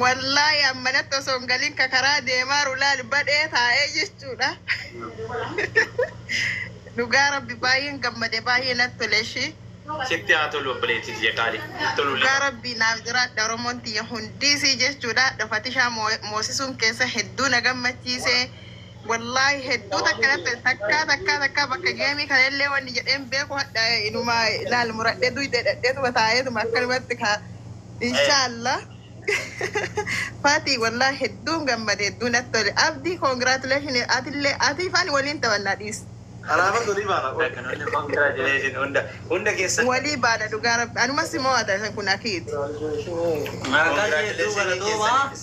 Wallaahi an manatti osoo hin galin ka karaa deemaaru laal badhee taa'ee jechuudha. Dhugaa rabbi baay'een gammade baay'ee natti tole ishii. Sitti haa tolu obboleettii tiyya qaalii. Hin tolu Dhugaa laata? rabbii naaf jiraadha Oromoon tiyya hundiisii jechuudha. Fatishaa moo- moosisuun keessa hedduu na gammachiise. Wallaahi hedduu takka naffe takkaa takkaa takkaa bakka geemii kana illee wanni jedheen beeku hadha inuma laal muradhee duyda dhadheetuma taa'eetuma akkanumatti kaa inshaalla Fati wallaahi hedduun gammade hedduu natti tole abdii congratulation atillee atii fani waliin taphannaa dhiis Alaabas olii baana qolli. Congratulations hunda hunda keessan. walii baana dhugaa rabbi anuma si mo'ata isan kun akiiti Congratulations keessaniifis.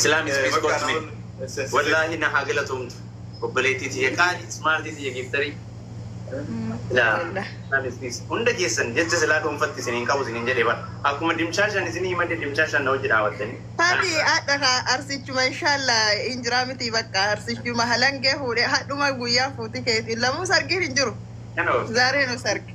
Islam is peace kottu mee. Wallaahi na haa galatoomtu obboleettii tiyya qaali smaartii tiyya giiftarii. Laa Islam is peace. Hunda keessan jecha silaa dhuunfatti isiniin qabu isiniin jedhee bara. Akkuma dimshaashaan isinii himadhe dimshaashaan na wajji dhaabattanii. Tabi adha ka arsichuma inshaalla hin jira miti bakka arsichuma halangee fuudhe hadhuma guyyaa fuuti keetiin lamuu sargiin hin jiru Kanoo. zaaree nu sargi.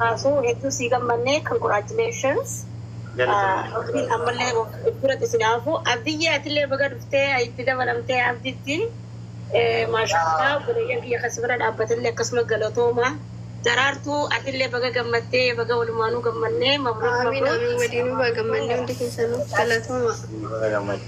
Kaasuu hedduu sii gammannee congratulations. Galatoomi. Rabbiin ammallee biratti isin haafu. Abdiyyee atillee baga dhuftee itti dabalamtee abditti. Maashaallah obboleeyyan kiyya kan sibira dhaabbatanillee akkasuma galatooma. Daraartuu atillee baga gammaddee baga walumaanuu gammannee mabruuk Amiin mabruuk. amiin waliinuu baga gammannee hundi keessanuu galatooma. Baga gammadde.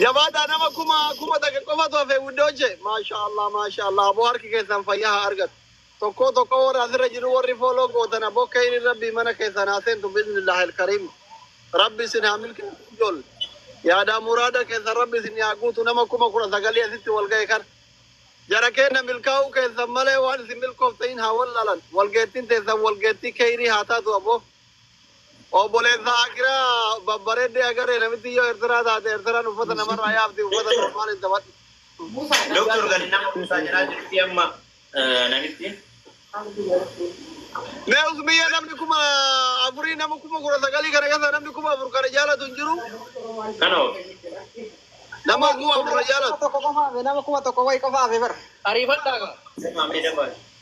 Jabaadhaa nama kuma kuma takka qofatu hafe wuddooche. Maashaa Allah maashaa Allah aboo harki keessan fayyaa haa argatu. Tokkoo tokkoo warra asirra jiru warri fooloo gootan aboo keeyriin rabbii mana keessan haa seentu biiznillaahi alkariim. Rabbi isin haa milkeessu ijool. Yaadaa muraada keessan rabbi isin haa guutu nama kuma kudha sagalii asitti wal ga'e kana. Jara keenya milkaa'uu keessan malee waan isin milkooftan hin haa wallaalan. Walgeettiin teessan walgeettii keeyrii haa taatu aboo. Obbolessa Akira babbareedde agarre namittiin yoo Ertiraa taate Ertiraan uffata namarraa yaafti uffata normaal hin taphatu. Doktar gadi nama buusaa jedhaa jirti amma namittiin. Mee usmiyya namni kuma afurii nama kuma kudha sagalii kana keessa namni kuma afur kana jaalatu hin jiru. Kana hoo. Nama kuma afur na jaalatu. Tokko qofa hafe nama kuma tokko wayi qofa hafe bar. Ariifadhaa gaa. Semaa mee dabaa.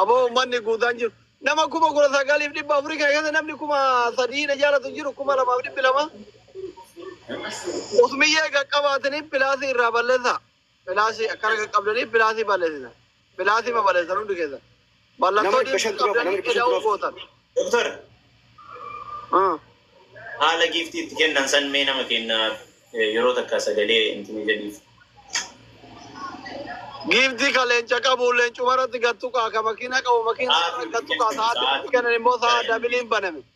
Aboo ummanni guutaan jiru. Nama kuma kudha sagaliif dhibba afurii kana keessa namni kuma sadii na jaalatu hin jiru kuma lamaaf dhibbi lama. Usmiyyee qaqqabaatanii pilaasii irraa balleessaa. Pilaasii akkana qaqqabdanii pilaasii balleessina. Pilaasii ma balleessan hundi keessan. Mallattoo diinqii qabdanii eda'uu gootan. Doktar. Haala giiftii itti kennan san mee nama kenna yeroo takka sagalee intini jedhiif. Giiftii ka leenca qabu leencuma irratti gad tuqaa, ka makiina qabu makiina irratti gad tuqaa, sa'aatii itti kennan immoo sa'a dabiliin baname.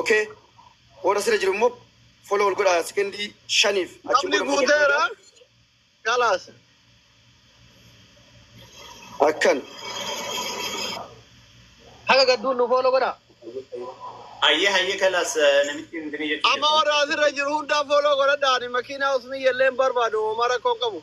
ok warra sira jiru immoo follow wal godhaa sekendii shaniif achi Namni booda immoo gad guuteera. deebi'aa. Kalaas. akkan Haga gadduun nu fooloo godhaa. Hayyee hayyee kalaas namitti hin dinee jechuudha. Amma warra asirra jiru hundaa fooloo godhadhaani makiinaa usmiyyallee hin barbaadu homaa rakkoo hin qabu.